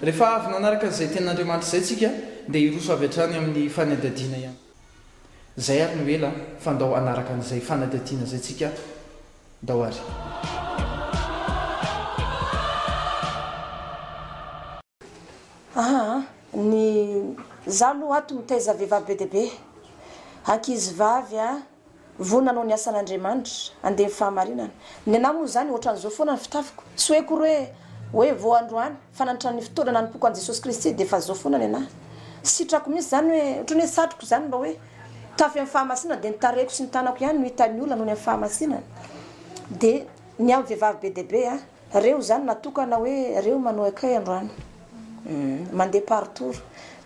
Rehefa avy nanaraka izay tenin'Andriamanitra izay isika dia hiroso avy hatrany amin'ny fanadihadiana ihany koa. Zay ary no ela fa ndao hanaraka an'izay fanadihadiana zay tsika ndao ary. Aa ny za aloha ato mitaiza vehivavy be dia be, ankizivavy a. Vonona hanao ny asan'Andriamanitra, handeha ny fahamarinana. Ny anà moa izany, ohatran'izao foana ny fitafiko. Tsy hoe akory hoe, hoe vao androany, fa nandritra ny fotoana nanompoako an'i Jesosy Kristy, dia efa izao foana ny anà. Sitrako mihitsy izany hoe, ohatran'ny hoe satriko izany mba hoe, tafy amin'ny fahamasinana, dia ny tarehiko sy ny tanako ihany no hitan'ny olona noho ny amin'ny fahamasinana. Dia ny amin'ny vehivavy be dia be an! Reo zany natokana hoe reo manoekay androany mandeha par tour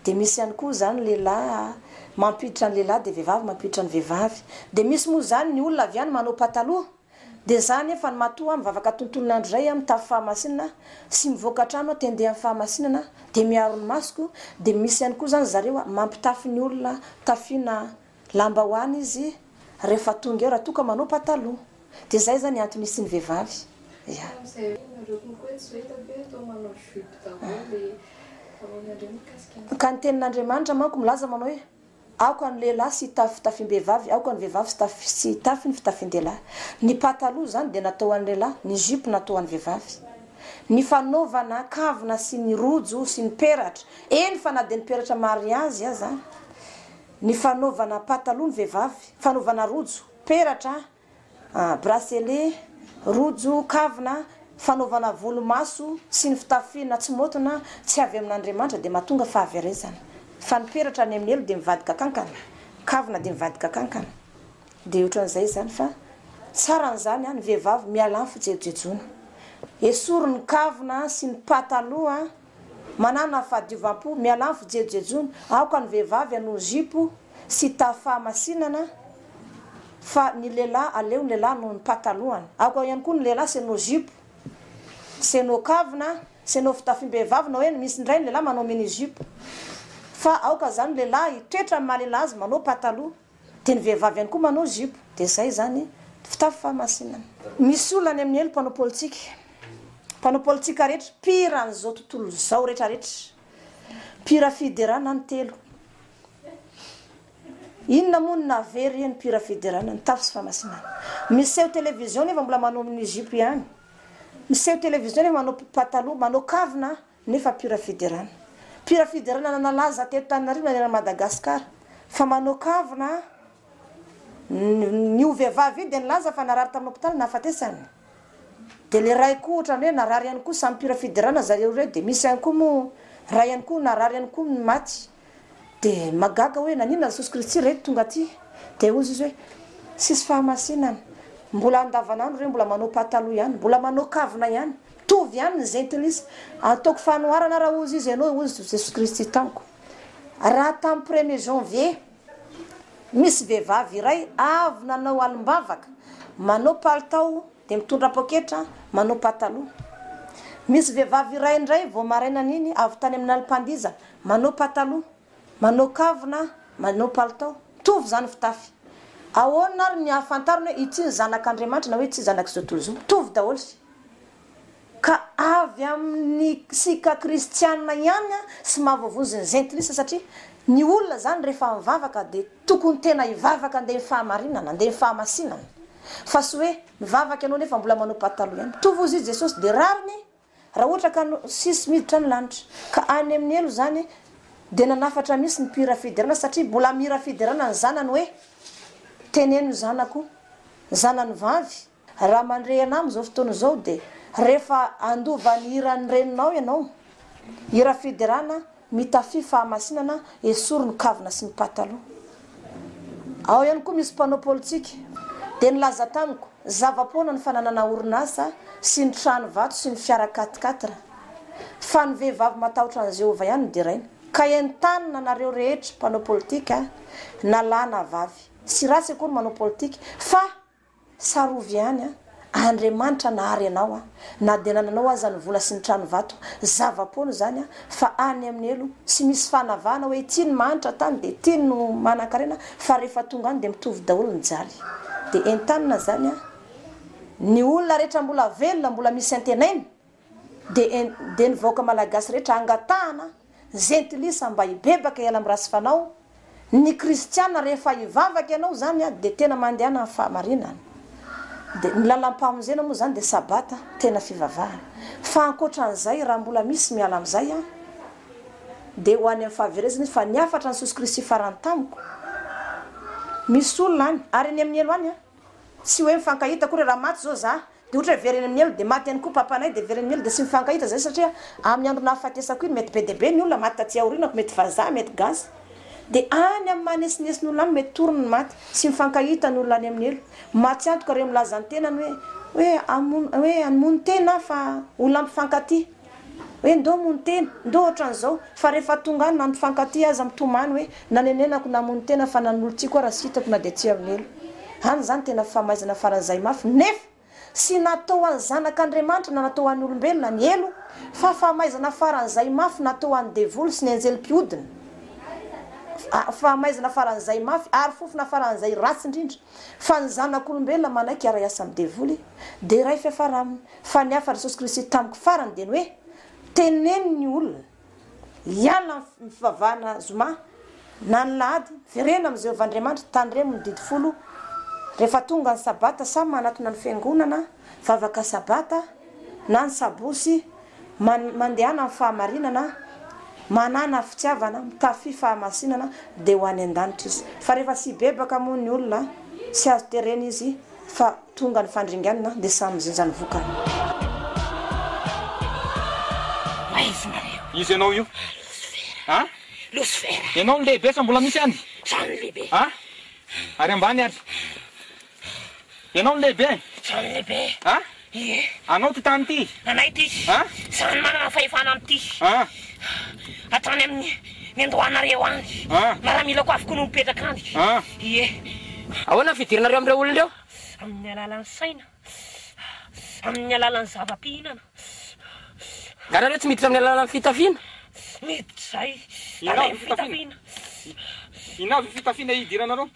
de misy ihany koa zany lehilahy mampiditra ny lehilahy de vehivavy mampiditra ny vehivavy de misy moa zany ny olona avy any manao pataloha de za nefa ny matoa mivavaka tontolon andro zay aho mitafy fahamasinana sy mivoaka trano aho te handeha am fahamasinana de miaro ny masoko de misy ihany koa zany zareo mampitafy ny olona tafiana Lambahoany izy rehefa tonga eo raha toa ka manao pataloha. Dia zay zany antony isiany vehivavy. Ya. Ka ny tenin'Andriamanitra manko milaza manao hoe aoka ny lehilahy sy hitafy fitafiam-behivavy, aoka ny vehivavy sy hitafy ny fitafin-dehilahy. Ny pataloha izany dia natao ho an'ny lehilahy, ny jupe natao ho an'ny vehivavy. Ny fanaovana kavina sy ny rojo sy ny peratra, eny fa na dia ny peratra mariazy aza Ny fanaovana pataloha ny vehivavy, fanaovana rojo, peratra, bracelet, rojo, kavina, fanaovana volo maso sy ny fitafiana tsy maotona tsy avy amin'Andriamanitra dia mahatonga fahaverezana. Fa ny peratra any amin'ny helo dia mivadika kankana, kavina dia mivadika kankana. Dia ohatran'izay izany fa tsara an'izany ny vehivavy miala amin'ny fijejojejoana. Esory ny kavina sy ny pataloha. Manana fahadiovam-po, miala amin'ny fijejojejoana, aoka ny vehivavy hanohy zipo sy tafy fahamasinana fa ny lehilahy aleo ny lehilahy hanohy ny patalohany, aoka ihany koa ny lehilahy sy hanohy zipo sy hanohy kavina sy hanohy fitafiam-behivavy na hoe misy indray ny lehilahy manao mini-jupe fa aoka izany ny lehilahy hitoetra amin'ny maha-lehilahy azy manao pataloha. Dia ny vehivavy ihany koa manao zipo dia zay zany fitafy fahamasinana. Misy olona any amin'ny helo mpanao politika, mpanao politika rehetra, mpihira an'izao tontolo izao rehetra rehetra, mpihira fiderana ny telo, inona moa no nahavery io ny mpihira fiderana ny tafy sy fahamasinana, miseho television nefa mbola manao ny zipo ihany, miseho television nefa manao pataloha, manao kavina. nefa pure fiderana pure fiderana na nalaza teto Tananarivo na any Madagascar fa manao kavina an, io vehivavy io dia nilaza fa narary tamin'ny hopitaly nahafatesany dia le ray koa otrany hoe narary ihany koa samy pure fiderana zareo ireo dia misy ihany koa moa ray ihany koa narary ihany koa maty. Dia mahagaga hoe naninona Jesosy Kristy re tonga aty? Dia hozy izy hoe, tsisy fahamasinana, mbola andavanandro re mbola manao pataloha ihany, mbola manao kavina ihany, mitovy ihany ny zentilisa, ataoko fanoharana ara hozy izy ianao hozy Jesosy Kristy tamiko, raha tamin'ny premier janvier misy vehivavy iray avy nanao alim-bavaka manao palitao, Dia mitondra poketra, manao pataloha. Misy vehivavy iray indray vao maraina an'iny avy tany amin'ny lalim-pandiza, manao pataloha, manao kavina, manao palitao. Mitovy izany fitafy. Ahoana ary ny ahafantarana hoe ity ny zanak'Andriamanitra na hoe tsy zanak'izao tontolo izao? Mitovy daholo sy. Ka avy amin'ny sika kristiana ihany sy mahavoavonjy ny zentilisa satria ny olona izany rehefa mivavaka dia tokony tena hivavaka handeha amin'ny fahamarinana, handeha amin'ny fahamasinana. Fa tsy hoe mivavaka ianao nefa mbola manao pataloha ihany. Mitovy hozy i Jesosy dia rariny raha ohatra ka no sisy miditra ny lanitra. Ka any amin'ny helo izany dia nanafatra mihitsy ny mpihira fiderana satria mbola mihira fiderana ny zanany hoe, Teneno zanako, zanany vavy, Raha mandre anah amin'izao fotoana izao dia rehefa handova ny hiran'ny reninao ianao, hira fiderana, mitafy fahamasinana, esory ny kavina sy ny pataloha. Ao ihany koa misy mpanao politika, dia nilaza tamiko, zava-poana ny fananana orinasa sy ny trano vato sy ny fiara quat-quatre, fa ny vehivavy matahotra an'i Jehovah ihany no deraina. Ka entanina anareo rehetra mpanao politika, na lahy na vavy. Tsy ratsy akory manao politika, fa Tsarovy ihany an! Andriamanitra nahary anao an! Na dia nananao aza ny vola sy ny trano vato, zava-poana izany an! Fa any amin'ny helo, tsy misy fanavahana hoe ity no mahantra tany dia ity no manankarena fa rehefa tonga any dia mitovy daholo ny jaly. Dia entanina izany an! Ny olona rehetra mbola velona, mbola misy antenaina, Dia ny vahoaka malagasy rehetra angatahana zentilisa mba hibebaka hiala amin'ny ratsy fanao, ny kristiana rehefa hivavaka ianao zany dia tena mandehana amin'ny fahamarinana, dia ny lalam-pamonjena moa zany dia sabata tena fivavahana, fa ankoatran'izay raha mbola misy miala amin'izay dia ho any amin'ny fahaverezana izy fa ny hafatra an'i Jesosy Kristy farany tamiko misy olona any ary any amin'ny helo any tsy hoe mifankahita akory raha maty zao za Dia ohatra hoe very eny amin'ny elo dia maty ihany koa papanay dia very eny amin'ny elo dia tsy mifankahita izay satria amin'ny andro nahafatesako iny mety be dia be ny olona maty taty aorinako mety vazaha mety gasy dia any amin'ny maha nesinesi ny olona any mety toriny ny maty tsy mifankahita ny olona any amin'ny elo maty antoka ireo milaza ny tenany hoe hoe hamono hoe hamono tena aho fa olona mpifankatia Hoe ndoo moa ny tena, ndoo ohatran'izao, fa rehefa tonga any na ny mpifankatia aza mitomany hoe nanenenako namoy ny tena fa nanolon-tsiako aho raha tsy hitako na dia tsy alon'ela. Any izany tena famaizana faran'izay mafy nefa tsy natao ho an'ny zanak'Andriamanitra na natao ho an'ny olombelona ny helo fa famaizana faran'izay mafy natao ho an'ny devoly sy ny anjely mpiodina, famaizana faran'izay mafy ary fofona faran'izay ratsy indrindra. fa ny zanak'olombelona manaiky hiara-hiasa amin'ny devoly dia iray fiafara aminy, fa ny hafan'i Jesosy Kristy tamiko farany dia ny hoe, teneno ny olona hiala amin'ny fivavahana zoma na alahady, verena amin'i Jehovah Andriamanitra, tandremo ny didy folo rehefa tonga ny sabata, samy manatona ny fiangonana, vavaka sabata na ny sabosy, mandehana amin'ny fahamarinana, manana fitiavana, mitafy fahamasinana dia ho any an-danitra izy. Fa rehefa tsy hibebaka moa ny olona, tsy azo terena izy fa tonga ny fandringanana dia samy mijinja ny vokany. Aiza nareo? Iza ianao io? Losifera. A? Losifera. Ianao no lehibe sa mbola misy ihany? Izaho no lehibe. A? Ary ambany ary? Ianao no lehibe e! Izaho no lehibe e! A? Ie! Anao ity tany ity? Anay ity! A? Izaho no manana fahefana amin'ity! A? Hatrany amin'ny ny an-dohanareo any! A? Miaramilako avokoa no mipetraka any! A? Ie! Ahoana ny fidirinareo amin'ireo olona ireo? Amin'ny alalan'ny saina, amin'ny alalan'ny zava-pihinana. Nga nareo tsy miditra amin'ny alalan'ny fitafiana? Miditra izay, Inona avy io fitafiana? Inona avy io fitafiana hidiranareo?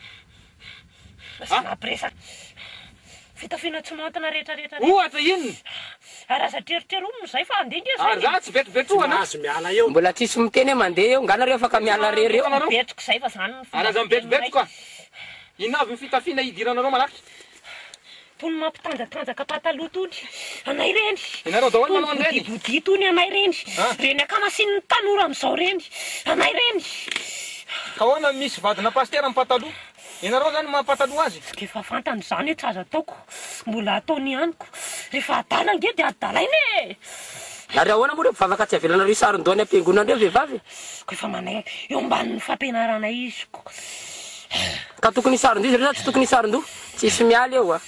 Lasa mampiresaka fitafiana tsy maontina rehetra rehetra rehetra. Ohatra inona? Ary aza treritreri omina izay fa handeha nge izay e! Ary za tsy vetivety ohana. Mbola tsisy miteny hoe mandeha eo, nga nareo afaka miala rery eo? Tena mibetroka izay fa zany no fomba fiteny anay. Ary aza mibetrobetoka, inona avy ny fitafiana hidiranareo manatri. Tony mampitanjatanjaka pataloha tony anay reny, tony bodibodia tony anay reny, reny akamasin'ny tanora amizao reny anay reny. Ka ahoana ny misy vadina pasitera amin'ny pataloha? Ianareo zany maha pataloha azy? Dia efa fantany izany hoe tsy azo ataoko, mbola ataony ihany ko. Rehefa adala ange dia adalaina e! Ary ahoana moa ireo mpivavaka tsy avelanareo hisaron-doha any am-piangonana ireo vehivavy e? Koa efa manaiky eo ambanin'ny fampianaranay izy koa. Ka tokony hisaron-doha izy ireo sa tsy tokony hisaron-doha? Tsisy miala eo a!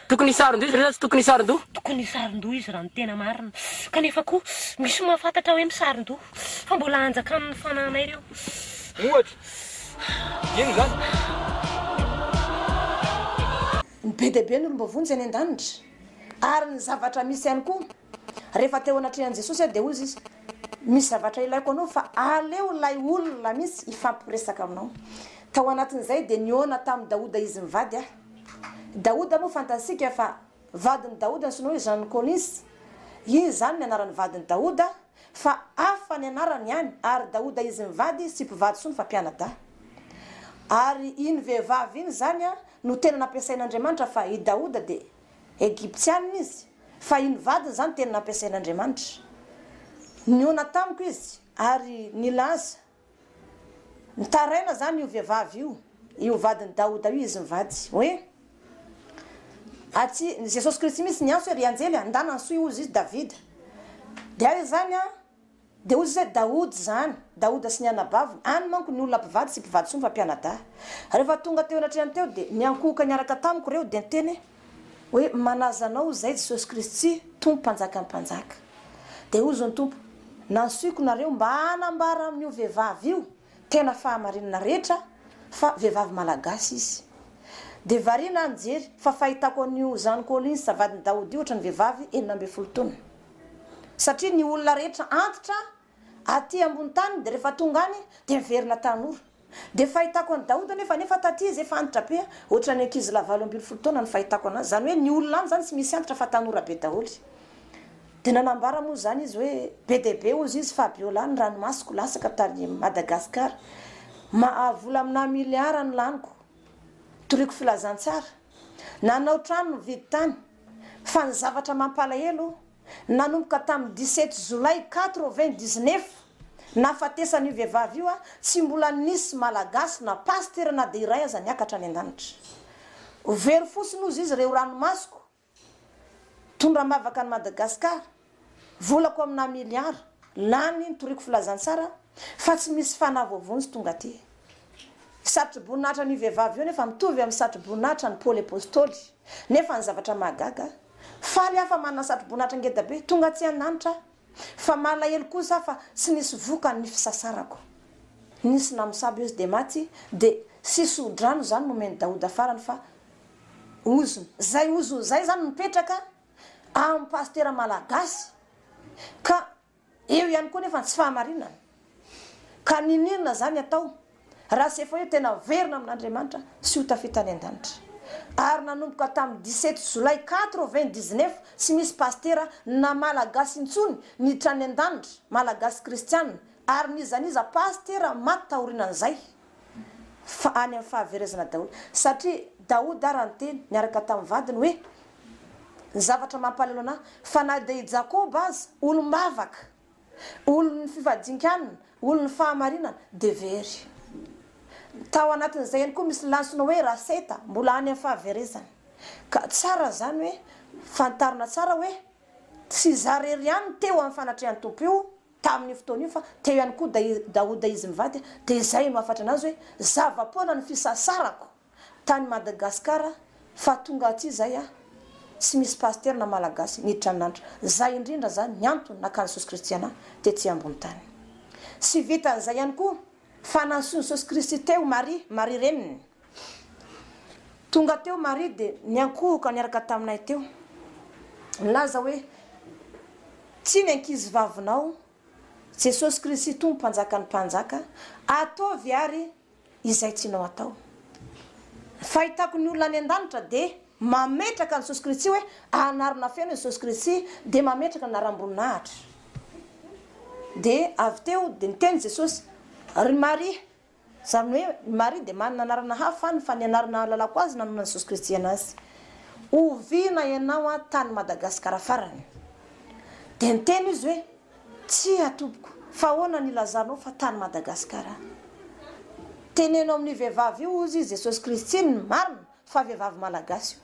Tokony hisaron-doha izy ireo sa tsy tokony hisaron-doha? Tokony hisaron-doha izy raha ny tena marina. Kanefa koa, misy mahafantatra hoe misaron-doha, fa mbola anjakan'ny fananay ireo. Ohatra, ino izany? Be dia be ny olom-bavonjy any an-danitra, ary ny zavatra misy ihany koa. Rehefa teo anatrehan'i Jesosy aho dia hoy Izy, Misy zavatra ilaiko anao fa aleo ilay olona mihitsy hifampiresaka aminao. Tao anatin'izay dia nihaona tamin'i Daoda Izy mivady ahy. Daoda moa fantatsika fa vadin'i Daoda ny sinoa izany Collins. Izy izany ny anaran'ny vadin'i Daoda fa hafa ny anarany ihany ary Daoda Izy mivady tsy mpivady intsony fa mpianadahy. Ary iny vehivavy iny izany no tena nampiasain'Andriamanitra fa i Daoda dia Egyptiana izy, fa iny vadiny izany teny nampiasain'Andriamanitra. Nihaona tamiko izy ary nilaza, Mitaraina izany io vehivavy io, io vadin'i Daoda io izy mivady, hoe, Atsy, Jesosy Kristy mihitsy niantso hoe, Ry anjely, andana ny soa hihozy izy, Davida. Dia izany an! Dia hoy Izy hoe, Daoda izany, Daoda sy ny anabaviny, any manko ny olona mpivady sy mpivady soa mifampianadahy. Rehefa tonga teo anatrehan'ny teo dia niankohoka niaraka tamiko ireo dia niteny hoe, Manaza Anao izay Jesosy Kristy, Tompo Mpanjakan'ny mpanjaka. Dia hoy Zony Tompo, Nansioiko nareo mba hanambara amin'io vehivavy io tena fahamarinana rehetra fa vehivavy malagasy izy. Dia variana aho nijery fa fahitako an'io Zany Collins vadin'i Daoda io ohatran'ny vehivavy enina ambin'ny folo taona. Satria ny olona rehetra antitra aty ambony tany dia rehefa tonga any dia miverina tanora. Dia fahitako an'i Daoda nefa nefa taty izy efa antitra be ohatran'ny ankizilahy valo ambin'ny folo taona no fahitako anazy. Izany hoe ny olona any izany tsy misy antitra fa tanora be daholo. Dia nanambara moa izany izy hoe be dia be hozy izy Fabiola ny ranomasoko latsaka tany Madagascar. Mahavola aminà milliards no laniko. Toriko filazantsara. Nanao trano nividy tany. Fa ny zavatra mampalahelo, nanomboka tamin'ny dix sept Jolay quatre vingt dix neuf nahafatesan'io vehivavy io, tsy mbola nisy Malagasy na Pasitera na dia iray aza niakatra any an-danitra. Ho very fosiny hozy izy re ho ranomasoko, tondra am-bavaka an'i Madagasikara. Volako amina miliara lany nitoriako filazantsara fa tsy misy fanahy voavonjy tonga aty. Satroboninahitra an'io vehivavy io nefa mitovy amin'ny satroboninahitra an'i Paoly Apostoly. Nefa ny zavatra mahagaga, faly aho fa manana satroboninahitra ngeda be tonga atsy an-danitra aho, fa malahelo kosa aho fa tsy nisy vokany ny fisasarako. Nisy namosavy ozy dia maty dia sisy odrano izany nomen'i Daoda farany fa ozona. Izay ozona izay izany no mipetraka. amin'ny pasitera malagasy ka eo ihany koa nefa ny tsy fahamarinana ka niniana izany atao raha tsy efa eo tena averina amin'Andriamanitra sy ho tafita any an-danitra ary nanomboka tamin'ny dix sept jolay quatre vingt dix neuf tsy misy pasitera na malagasy intsony niditra any an-danitra malagasy kristiana ary n'iza n'iza pasitera maty taorinan'izay Fa any amin'ny fahaverezana Daoda. Satria Daoda ary no teny, niaraka tamin'ny vadiny, hoe, Ny zavatra mampalahelo an'ahy, fa na dia i Jakoba aza, olom-bavaka, olon'ny fifadin-kanina, olon'ny fahamarinana, dia very. Tao anatin'izay ihany koa misy lantsona hoe Raseta, mbola any amin'ny fahaverezana. Ka tsara izany hoe fantarina tsara hoe tsy izaho irery ihany no te ho amin'ny fanatrehan'ny Tompo io, tamin'io fotoana io fa teo ihany koa dai, Daouda izy mivady dia izay no hafatra anazy hoe zava-poana ny fisasarako tany Madagascar fa tonga aty izay aho tsy misy pasitera na malagasy niditra amin'Anitra zay indrindra zany ny antony nakany Jesosy Kristy anah tety ambony tany. Tsy vitan'izay ihany koa. Fa nantsoin'i Jesosy Kristy teo Maria, Maria reniny. Tonga teo Maria dia niankohoka niaraka taminay teo. Nilaza hoe, Ity ny ankizivavinao, Jesosy Kristy Tompo Mpanjakan'ny mpanjaka, ataovy àry izay tianao atao. Ny fahitako ny olona any an-danitra dia. Mametraka ny soskiritsy hoe anarana feno ny soskiritsy dia mametraka ny anaram-boninahitra. Dia avy teo dia niteny Jesosy, Ry Maria, izany hoe i Maria dia manana anarana hafa any fa ny anarana ahalalako azy nanonan'ny soskiritsy anazy. Oviana ianao aho tany Madagasikara farany? Dia niteny izy hoe, Tsia tompoko, fa ahoana no ilazanao fa tany Madagasikara aho? Teneno amin'ny vehivavy io hozy Jesosy Kristy ny marina Fa vehivavy malagasy io.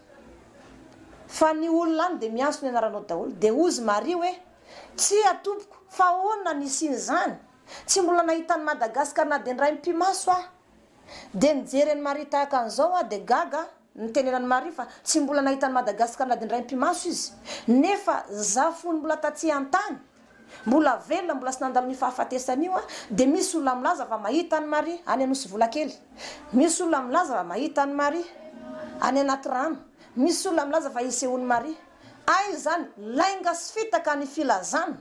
Fa ny olona any dia miantso ny anaranao daholo, dia hozy Maria hoe, tsia tompoko, fa ahoana ny hisian'izany? Tsy mbola nahita an'i Madagascar na dia indray mipi-maso aho. Dia nijery an'i Maria tahaka an'izao aho dia gaga, nitenenan'i Maria fa tsy mbola nahita an'i Madagascar na dia indray mipi-maso izy, nefa za fony mbola tatsy an-tany. Mbola velona, mbola tsy nandalo an'io fahafatesana io aho, dia misy olona milaza fa mahita an'i Maria any Anosivolakely. Misy olona milaza fa mahita an'i Maria any Anatirano. Misy olona milaza fa isehoan'i Maria. Aiza izany? Lainga sy fitaka ny filazana,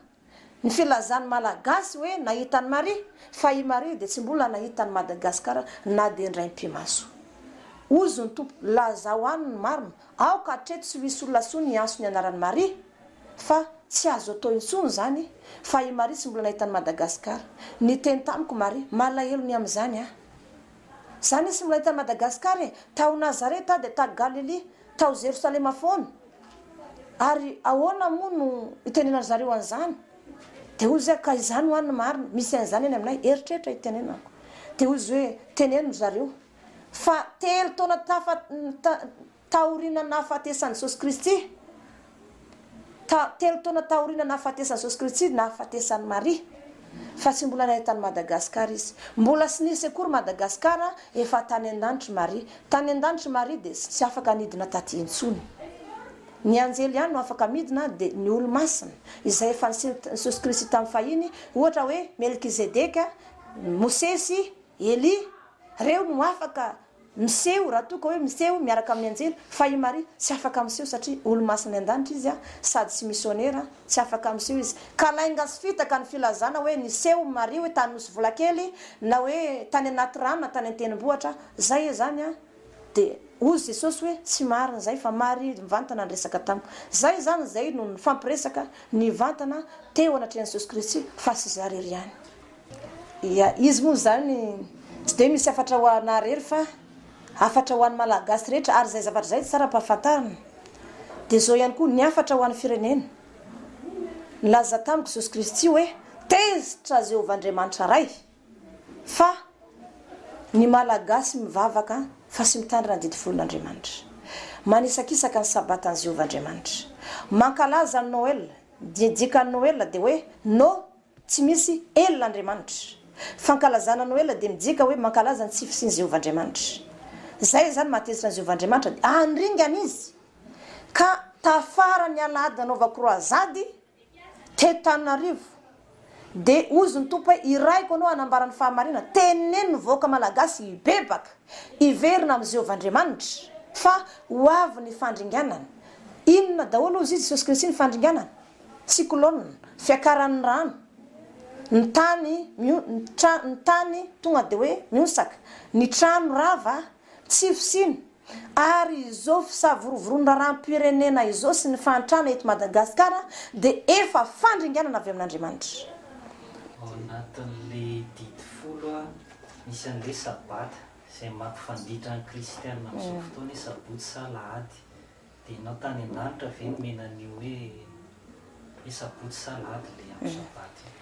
ny filazan'ny Malagasy hoe nahita an'i Maria, fa i Maria dia tsy mbola nahita an'i Madagasikara na dia indray mpimaso. Hoy Zontompo, lazao any ny marina, aoka hatreto tsy ho hisy olona intsony hiantso ny anaran'i Maria. Fa tsy azo atao intsony izany fa i Maria tsy mbola nahita an'i Madagascar. Niteny tamiko Maria, malahelo ny amin'izany aho. Za anie tsy mbola nahita an'i Madagascar e! Tao Nazareth aho dia ta Galilia, tao Jerosalema foana. Ary ahoana moa no hitenenan'ny zareo an'izany? Dia hoy izy hoe ka izany ho'a ny marina, misy an'izany any aminay, eritreritra hitenenako. Dia hoy izy hoe teneno ry zareo fa telo taona tafa, Taorian'ny nahafatesan'i Jesosy Kristy, ta, telo taona taorian'ny nahafatesan'i Jesosy Kristy, nahafatesan'i Maria, fa tsy mbola nahay tany Madagascar izy. Mbola tsy nisy akory Madagascar, efa tany an-danitr'i Maria. Tany an-danitr'i Maria dia tsy afaka nidina taty intsony. Ny anjely ihany no afaka midina, dia ny olo-masina, izay efa niseho Jesosy Kristy tamin'ny fahiny, ohatra hoe Melkizedeka, Mosesy, Elia, reo no afaka Miseho, raha toa ka hoe miseho miaraka amin'ny anjely, fa i Maria tsy afaka miseho satria olo-masin'ny an-danitra izy sady tsy misionera, tsy afaka miseho izy. Ka lainga sy fitaka ny filazana hoe niseho Maria hoe tany Nosy Volakely na hoe tany anaty rano na tany an-tendrombohitra. Izay izany an! Dia hoy Jesosy hoe tsy marina izay fa Maria mivantana niresaka tamiko. Izay izany, izay no nifampiresaka nivantana teo anatrehan'i Jesosy Kristy fa tsy zareo ihany. Ia, izy moa izany tsy dia misy hafatra ho anà irery fa hafatra ho an'ny Malagasy rehetra ary izay zavatra izay tsara ampahafantarina. Dia izao ihany koa ny hafatra ho an'ny firenena. Nilaza tamiko Jesosy Kristy hoe, Tezitra Jehovah Andriamanitra Ray fa ny Malagasy mivavaka fa sy mitandrina ny didy folon'Andriamanitra. Manisakisaka ny Sabatan'i Jehovah Andriamanitra. Mankalaza ny Noel, dia ny dikan'ny Noel dia hoe, No, Tsy misy El Andriamanitra. Fankalazana Noela dia midika hoe mankalaza ny tsy fisian'i Jehovah Andriamanitra. Izay izany mahatezitra an'i Jehovah Andriamanitra dia handringana izy. Ka tafaran'ny alahady nanaovako kroazady teto Tananarivo dia hozy ny Tompo hoe irahiko anao hanambara ny fahamarinana. Teneno ny vahoaka malagasy hibebaka, hiverina amin'i Jehovah Andriamanitra fa ho avy ny fandringanana. Inona daholo hozy i Jesosy Kristy ny fandringanana? Cyclone, fiakaran'ny rano, ny tany mion, ny tra, ny tany tonga dia hoe mionsaka, ny trano rava, tsy fisiana, ary izao fisavorovoroan'ny raharaham-pirenena izao sy ny fahantrana eto Madagasikara dia efa fandringanana avy amin'Andriamanitra. Ao anatin'ilay didy folo a, misy an'ilay Sabata, izay mampifanditra ny kristiana amin'izao fotoana hoe Sabotsy sa Alahady. Dia enao tany an-danitra ve nomena an'io hoe le sabotsy sa lahady le andro sabata io?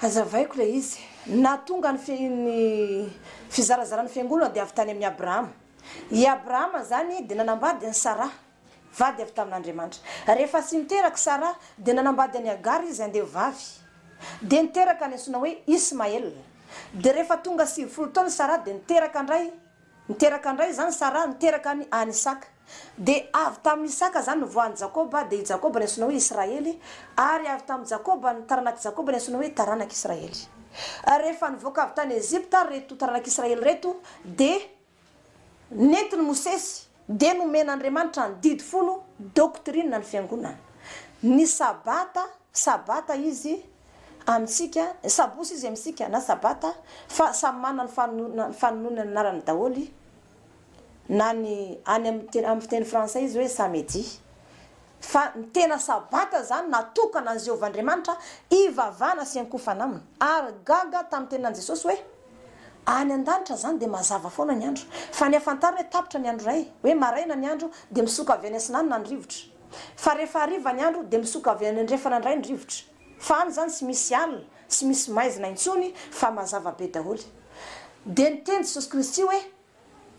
Hazavaiko ilay izy. Ny nahatonga ny fi, ny fizarazaran'ny fiangonana dia avy tany amin'i Abrahama. I Abrahama izany dia nanambady an'i Saraha, vady avy tamin'Andriamanitra. Rehefa tsy niteraka i Saraha dia nanambady an'i Hagara izy, andehovavy. Dia niteraka ny antsoina hoe Ismaela. Dia rehefa tonga sivifolo taona i Saraha dia niteraka an-dray Niteraka indray izany Saraha niteraka an' an' Isaka. Dia avy tamin' Isaka izany ny voan' i Jakoba, dia i Jakoba ny antsoina hoe Israely, ary avy tamin' i Jakoba ny taranak' i Jakoba ny antsoina hoe taranak' Israely. Ary rehefa nivoaka avy tany Ejipta ary ireto taranak' Israely ireto, dia nentin' i Mosesy, dia nomen' Andriamanitra ny Didy folo, doctrine ny Fiangonana, ny Sabata, Sabata izy Amintsika, ny sabosy izy amintsika na sabata fa samy manana ny fanononany fanononany anarany daholo na ny any amin'ny amin'ny fiteny frantsay izy hoe samedi fa ny tena sabata izany natokana an'i Jehovah Andriamanitra hivavahana sy hiankofana aminy ary gaga tamin'ny teninan'i Jesosy hoe any an-danitra izany dia mazava foana ny andro fa ny hahafantarana hoe tapitra ny andro iray hoe maraina ny andro dia misoka avy any atsinanana ny rivotra Fa rehefa hariva ny andro dia misoka avy any andrefana indray ny rivotra. Fa any izany tsy misy alina, tsy misy maizina intsony fa mazava be daholo. Dia niteny Jesosy Kristy hoe,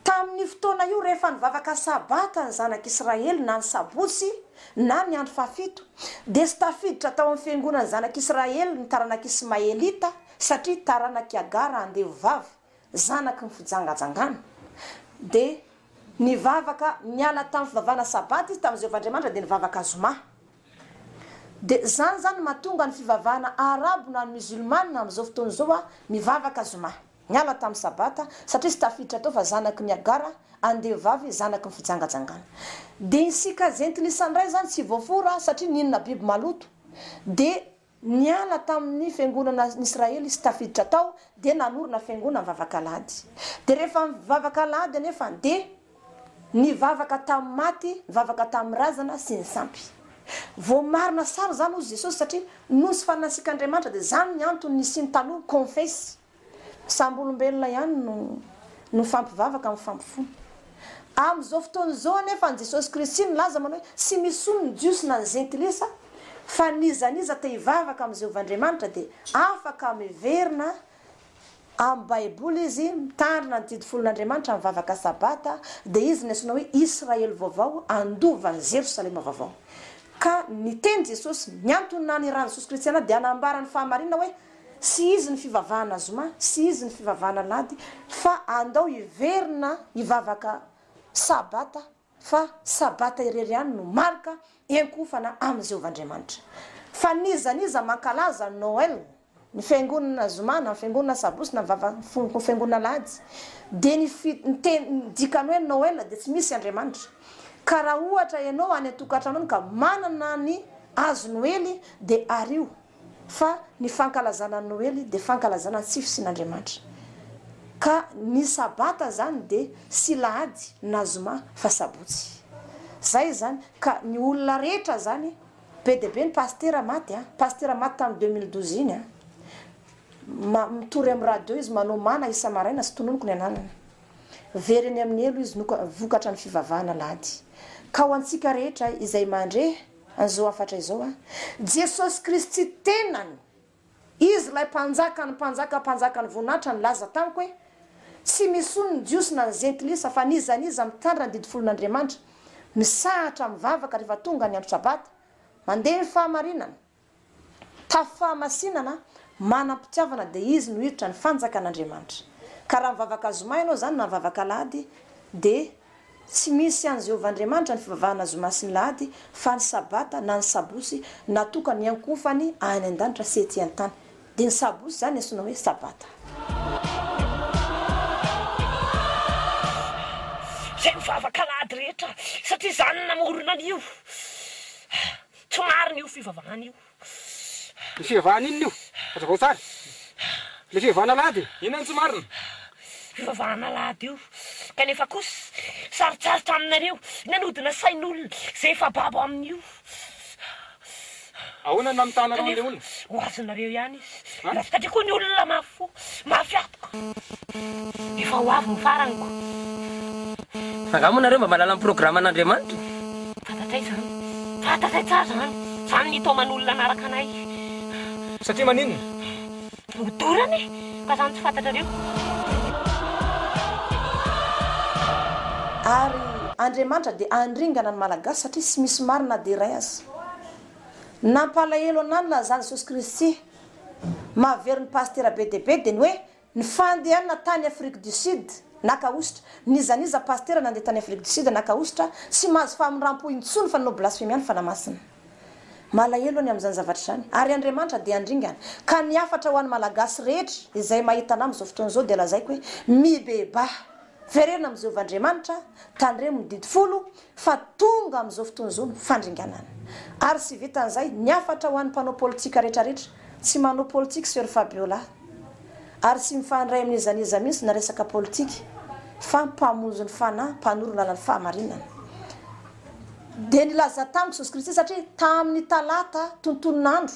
Tamin'io fotoana io rehefa nivavaka Sabata ny Zanak'i Israely na ny Sabotsy na ny andro fahafito, dia tsy tafiditra tao amin'ny fiangonan'ny Zanak'i Israely ny taranak'Ismaelita satria taranak'i Agara andevovavy. zanaky ny fijangajangana, dia nivavaka niala tamin'ny fivavahana Sabata izy tamin'ny Jehovah Andriamanitra dia nivavaka Zoma. Dia izany izany no mahatonga ny fivavahana Arabo na Musulmana amin'izao fotoana izao mivavaka Zoma, niala tamin'ny Sabata, satria izy tafiditra tao fa zanaky ny Hagar, andevovavy zanaky ny fijangajangana. Dia isika Jentilisa indray izany tsy voafora satria nihinana biby maloto, dia. Niala tamin' ny fiangonana an' Israely izy tafiditra tao dia nanorina fiangonana mivavaka alahady. Dia rehefa mivavaka alahady anefa dia nivavaka tamin'ny maty, nivavaka tamin'ny razana sy ny sampy. Voamarina sary izany hoy Jesosy satria nosy farin'ny nasiaka Andriamanitra dia izany ny antony nisiany taloha, confesy. Samby olombelona ihany no mifampivavaka amin'ny fampifony. Amin'izao fotoana izao anefa an'i Jesosy Kristy nilaza manao hoe tsy misy olony ny Jiosy na ny Jentilisa fa n'iza n'iza te hivavaka amin'i Jehovah Andriamanitra dia afaka miverina amin'ny Baiboly izy mitandrina ny didy folon'Andriamanitra mivavaka Sabata dia izy no antsoina hoe Israely vaovao andovan'i Jerosalema vaovao ka niteny Jesosy ny antony nanirahany Jesosy Kristy anah dia hanambara ny fahamarinana hoe Tsy izy ny fivavahana zoma, tsy izy ny fivavahana lahady, fa andao hiverina hivavaka Sabata, fa Sabata irery ihany no marika hiankohofana amin'i Jehovah Andriamanitra. Fa n'iza n'iza mankalaza Noel, ny fiangonana zoma na ny fiangonana sabosy na ny fiangonana lahady, dia ny teny, ny dikany hoe Noel dia tsy misy Andriamanitra. Ka raha ohatra ianao any an-tokantranony ka manana ny hazo noely dia ario. Fa ny fankalazana ny Noely dia fankalazana tsy fisian'Andriamanitra. Ka ny sabata izany dia tsy lahady na zoma fa sabotsy. Izay izany. Ka ny olona rehetra izany, be dia be ny pasitera maty an! Pasitera maty tamin'ny deux mille douze iny an! Ma, mitory amin'ny radio izy, manao mana isa-maraina sy tononiko ny ananany. Very eny amin'ny helo izy, noka, vokatra ny fivavahana lahady. Ka ho antsika rehetra izay mandre. An'izao hafatra izao a. Jesosy Kristy tenany, Izy ilay Mpanjakan'ny mpanjaka, Mpanjakan'ny voninahitra nilaza tamiko hoe, Tsy misy olona ny Jiosy na ny Zentilisa, fa n'iza n'iza mitandrina ny didy folon'Andriamanitra, misahatra mivavaka rehefa tonga ny andro Sabata, mandeha ny fahamarinana, Tafo fahamasinana, manam-pitiavana dia izy no hiditra ny fanjakan'Andriamanitra. Ka raha mivavaka zoma ianao izany na mivavaka alahady dia tsy misy an'i Jehovah Andriamanitra ny fivavahana zoma sy ny lahady fa ny sabata na ny sabosy natokany hiankohofany any an-danitra sy ety an-tany. Dia ny sabosy izany antsoina hoe sabata. Izay mivavaka alahady rehetra satria izany no namorona an'io. Tsy marina io fivavahana io. Ny fivavahana inona io? Hazavao tsara. Ilay fivavahana alahady e. Inona no tsy marina? Fivavahana alahady io. Kanefa kosa, sarotsarotra aminareo ny hanodina sain'olona izay efa babo amin'io. Ahoana no namitàhanareo an'ilay olona? Kanefa, ho azonareo ihany izy. Manafika be koa ny olona mafy fo, mafy atoka. Efa ho avy ny farany ko. Angaha moa nareo mba mahalala ny programme n'Andriamanitra? Fantatray izany. Fantatray tsara izany. Izany ny taoman'olona hanaraka anay. Satria maninona? Ho dorana e! Ka izany tsy fantatrareo. Ary Andriamanitra dia handringana ny Malagasy satria tsy misy marina na dia iray aza. Nampalahelo anah ny lazan'i Jesosy Kristy. Mahavery ny pasitera be dia be dia ny hoe ny fandehanana tany Afrique du Sud naka hosotra. N'iza n'iza pasitera nandeha tany Afrique du Sud naka hosotra tsy mahazo famindrampò intsony fa nanao blasfemia ny fanahy masina. Malahelo ny amin'izany zavatra izany. Ary Andriamanitra dia handringana. Ka ny hafatra ho an'ny Malagasy rehetra izay mahita anah amin'izao fotoana izao dia lazaiko hoe mibebaha. Verenina amin'i Jehovah Andriamanitra, tandremo ny Didy Folo, fa tonga amin'izao fotoana izao ny fandringanana. Ary tsy vitan'izay, ny hafatra ho an'ny mpanao politika rehetrarehetra, tsy manao politika Soeur Fabiola, ary tsy mifandray amin'iza n'iza mihitsy na resaka politika, fa mpamonjy ny fanahy, mpanoro ny lalan'ny fahamarinana. Dia nilaza tamiko Jesosy Kristy, satria tamin'ny talata, tontonon'andro,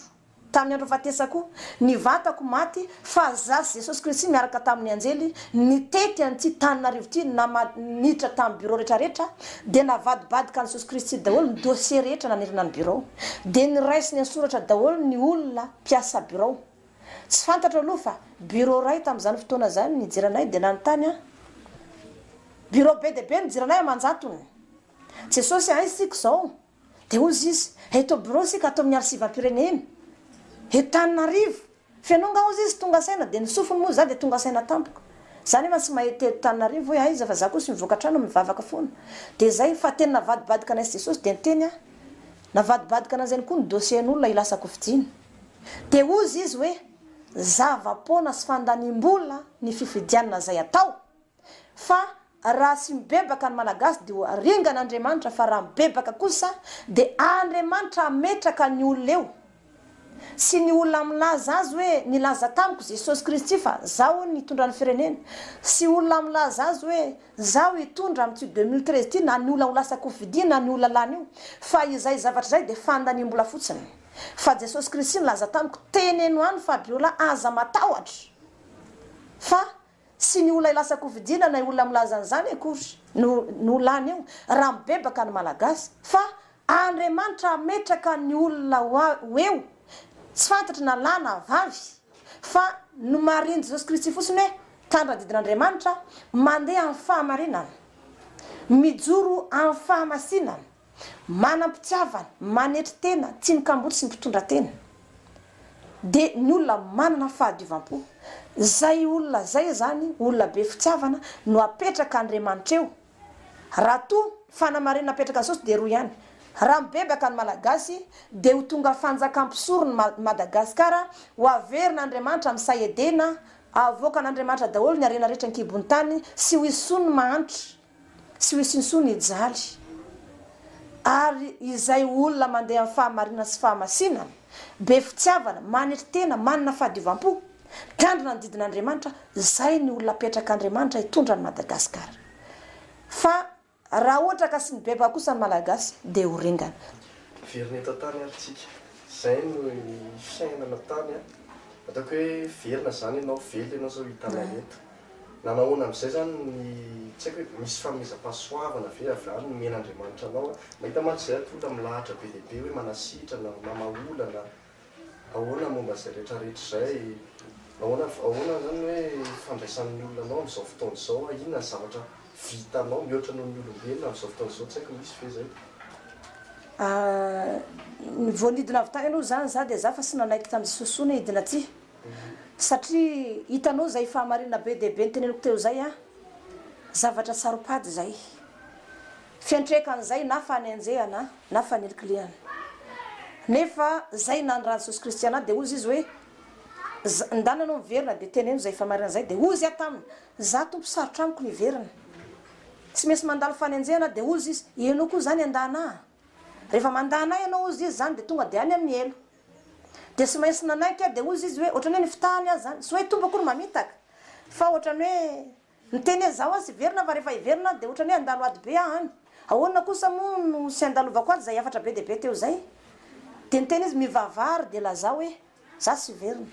Tamin'ny andro fahatesako, ny vatako maty, fa Zah sy Jesosy Kristy miaraka tamin'ny anjely, nitety an'ity tanin'arivo ity nama niditra tamin'ny bureau rehetra rehetra, dia navadibadika an'i Jesosy Kristy daholo ny dossier rehetra nanerana ny bureau. Dia niraisiny an-tsoratra daholo ny olona mpiasa bureau. Tsy fantatro aloha fa bureau iray tamin'izany fotoana izany nijery anay dia nanontany ahy. Bureau be dia be nijery anay aman-jatony. Jesosy a, aiza isika izao? Dia hoy izy izy, eto birao isika ato amin'ny arsivam-pirenena eto Tananarivo. Feno angaha hoy izy tonga saina, dia ny sofiny moa izaho dia tonga saina tampoka. Izaho nefa tsy mahay teny Tananarivo hoe aiza fa izaho koa tsy mivoaka trano mivavaka foana. Dia izay fa teny navadibadika anay sy Jesosy dia niteny aho. Navadibadika anan'izany koa ny dossier-n'olona hilasan-kofidiana. Dia hoy izy izy hoe, zava-poana sy fandaniam-bola ny fifidianana izay atao fa Raha tsy mibebaka ny Malagasy dia ho aringan' Andriamanitra fa raha mibebaka kosa dia Andriamanitra hametraka ny olona eo. Tsy ny olona milaza azy hoe nilaza tamiko Jesosy Kristy fa zaho hono nitondra ny firenena. Tsy olona milaza azy hoe zaho hitondra amin'ity deux mille treize ity na ny olona ho lasa kofidia na ny olona lany io fa izay zavatra izay dia fandaniam-bola fotsiny fa Jesosy Kristy nilaza tamiko teneno any Fabiola aza matahotra fa Tsy ny olona lasa kofidina na olona milaza an'izany akory no no lany eo raha mibebaka ny Malagasy fa Andriamanitra hametraka ny olona ho eo tsy fantatry na lahy na vavy fa nomarin'i Jesosy Kristy fotsiny hoe tandradidin'Andriamanitra mandeha amin'ny fahamarinana mijoro amin'ny fahamasinana Manam-pitiavana, manetry tena, tsy ny kamboty sy ny mpitondra tena dia ny olona manana fahadiovam-po. Izay olona izay izany, olona be fitiavana, no apetraka Andriamanitra eo. Raha toa fanamarinana apetraka Jesosy dia roa ihany, raha mibebaka ny Malagasy dia ho tonga fanjaka mpisorony Madagasikara, ho averina Andriamanitra amin'ny sahy Edena, havoakan'Andriamanitra daholo ny harena rehetra an-kibon'ny tany sy ho hisy soa ny mahantra. Tsy ho hisy intsony ny jaly, ary izay olona mandeha amin'ny fahamarinana sy fahamasinana, be fitiavana, maniry tena, manana fahadiovam-po, mitandrina ny didin'Andriamanitra, izay ny olona apetrak'Andriamanitra hitondra an'i Madagasikara. Fa raha ohatra ka sy ny bebaka kosa ny Malagasy dia ho ringana. Very ny eto an-tany ary tsika. Izay no fiainana tany an. Ataoko hoe very na zany ianao, velona ianao zao hitanay eto. Na nahoana amin'izay izany ny, tsy haiko hoe misy fanomezam-pahasoavana ve avy any nomen'Andriamanitra anao an? Mahita mantsy izay ato olona milahatra be dia be hoe manasitrana, mamaha olana, ahoana momba izay rehetrarehetra izay? Nahoana, ahoana izany ny hoe fandraisan'ny olona anao amin'izao fotoana izao an? Inona ny zavatra vitanao mihoatra noho ny olombelona amin'izao fotoana izao? Tsy haiko misy ve izay? Ny vao nidina avy tany aloha izany za dia za fa tsy nanaiky tamin'i Sosoa ny hidina aty. Satria hitanao izay fahamarinana be dia be noteneniko teo izay an! Zavatra saro-pady izay. Fiantrekan'izay na fanenjehana na fanilikilihana. Nefa izay nandran'i Jesosy Kristy anà dia hozy Izy hoe, Za, ndana ianao miverina dia teneno izay fahamarinana izay, dia hozy aho taminy, Za Tompo sarotra amiko ny hiverina. Tsy maintsy mandalo fanenjehana aho, dia hozy Izy, Ianao koa izany handà anà? Rehefa mandà anà ianao hozy Izy izany dia tonga dia any amin'ny helo. Dia tsy maintsy nanaiky aho, dia hoy izy hoe, ohatran'ny hoe ny fitahany aza izany, tsy hoe Tompo akory mamitaka, fa ohatran'ny hoe niteny hoe izaho aza hiverina fa rehefa hiverina aho dia ohatran'ny hoe handalo ady be aho any, ahoana kosa moa no tsy handalovako ady izay hafatra be dia be teo izay? Dia niteny izy, mivavaha ary dia lazao hoe, izaho tsy hiverina.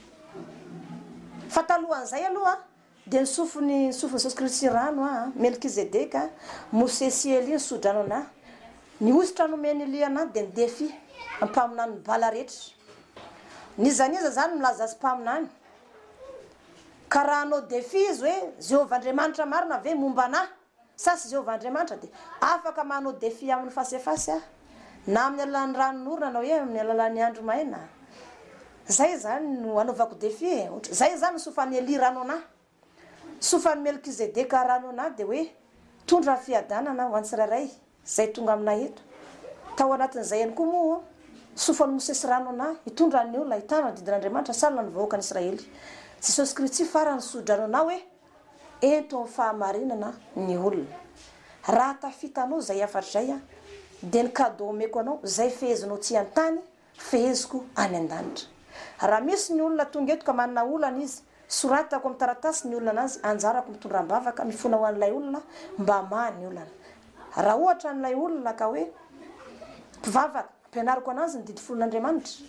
Fa talohan'izay aloha. Dia ny sofiny, ny sofin'i Jesosy Kristy sy rano aho, Melkizedeka, Mosesy sy Elia ny sodrano anà. Ny hosotra nomen'i Elia anà dia ny defi, ampaminanin'ny Bala rehetra. N'iza n'iza izany milaza azy mpaminany. Ka raha hanao defi izy hoe, Jehovah Andriamanitra marina ve momba anà? Sasy Jehovah Andriamanitra dia afaka manao défi aminy fasefasy aho na amin'ny alalan'ny ranon'orana na hoe amin'ny alalan'ny andro maina Zay izany no anaovako défi e ohatra Zay izany ny sofan'i Elia rano anah Sofan'i Melkizedeka rano anah dia hoe tondro amin'ny fiadanana ho an'ny tsirairay Izay tonga aminay eto. Tao anatin'izay ihany koa moa sofan'i Mosesy rano anay, hitondra an'ny olona hitana ny didin'Andriamanitra sanona ny vahoakan'Israely. Jesosy Kritsy farany ny sodrano anao hoe, Ento amin'ny fahamarinana ny olona. Raha tafitanao izay hafatra izay dia ny cadeau omeko anao, izay fehezinao tsy an-tany, Feheziko any an-danitra. Raha misy ny olona tonga eto ka manana olana izy, soratako amin'ny taratasy ny olana azy, anjarako mitondra am-bavaka, mifona ho an'ilay olona mba hamaha ny olana. Raha ohatra an'ilay olona ka hoe mpivavaka, ampianariko an'azy ny didy folon' Andriamanitra,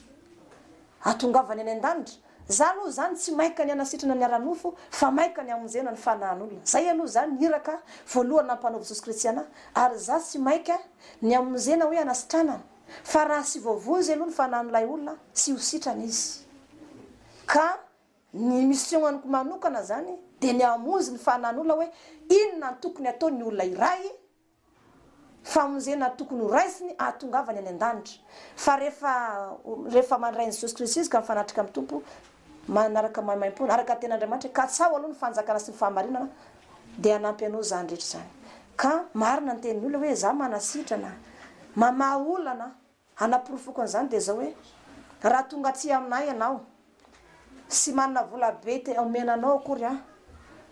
ahatongavany any an-danitra. Za aloha izany tsy maika ny hanasitrana ny ara-nofo fa maika ny hamonjena ny fanahin'olona. Zay aloha izany ny iraka voalohany nampanaovy Jesosy Kristiana ary za tsy maika ny hamonjena hoe hanasitrana ny. Fa raha tsy voavonjy aloha ny fanan'ilay olona, tsy ho sitrana izy. Ka ny mission-ko manokana izany dia ny hamonjy ny fanan'olona hoe inona no tokony hataon'ny olona iray, famonjena tokony ho raisiny hahatongavany any an-danitra. Fa rehefa rehefa mandray an'i Jesosy Kristy izy ka mifanatrika amin'ny Tompo, manaraka maimaimpoana araka ny ten'Andriamanitra, katsaho aloha ny fanjakana sy ny fahamarinana dia hanampy anao izany rehetra izany. Ka marina ny tenin'ny olona hoe, za manasitrana, mamaha olana aho, hanaporofoko an'izany dia izao hoe, raha tonga aty aminay ianao, sy manana vola be te omena anao akory aho,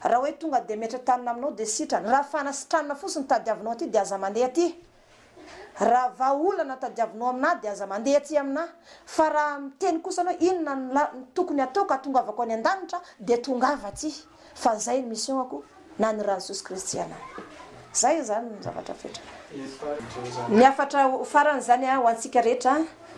raha hoe tonga dia mihetra-tanana aminao dia sitrana, raha fanasitranana fotsiny no tadiavinao aty dia aza mandeha aty, Raha vahaolana tadiavinao amin'ahy dia aza mandeha aty amin'ahy, fa raha miteny kosa anao inona no la, no tokony ataoko hatongavako any an-danitra dia tongava aty, fa izay ny mission-ako na ny ran'i Jesosy Kristy anay. Izay izany ny zavatra fetra. Ny hafatra ho farany izany ho antsika rehetra,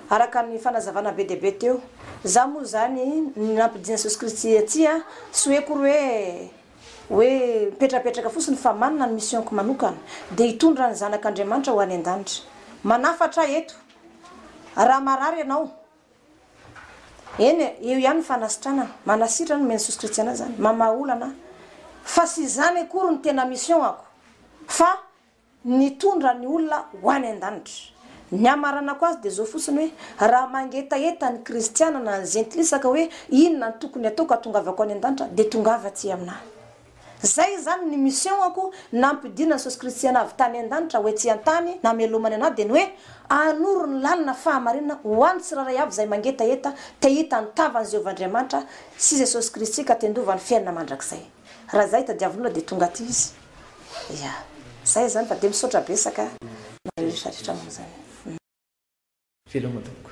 araka ny fanazavana be dia be teo. Izaho moa izany, ny nampidian'i Jesosy Kristy aty, tsy hoe akory hoe, Hoe mipetrapetraka fotsiny fa manana ny mission-ko manokana dia hitondra ny zanak' Andriamanitra ho any an-danitra. Manafatra aho eto. Raha marary ianao, eny e, eo ihany ny fanasitranana. Manasitrana, omeny sosy kristiana izany. Mamaha olana aho. Fa tsy izany akory no tena mission-ako fa. nitondra ny olona ho any an-danitra. Ny hamaranako azy dia izao fotsiny hoe, raha mangetaheta ny kristiana na ny zentilisa ka hoe, inona no tokony hataoko hahatongavako any an-danitra, dia tongava aty amin'ahy. Izay izany ny mission-ako nampidinan'i Jesosy Kristy anah avy tany an-danitra ho ety an-tany namelomany anah dia ny hoe, hanoro ny lalana fahamarinana ho an'ny tsirairay avy izay mangetaheta te hahita ny tavan'i Jehovah Andriamanitra sy Jesosy Kristy ka te handova ny fiainana mandrakizay. Raha izay tadiavin'ny olona dia tonga aty izy. Ya. Zay zany fa dia misaotra betsaka nareo retraretra manao zany. Veloma tompoko.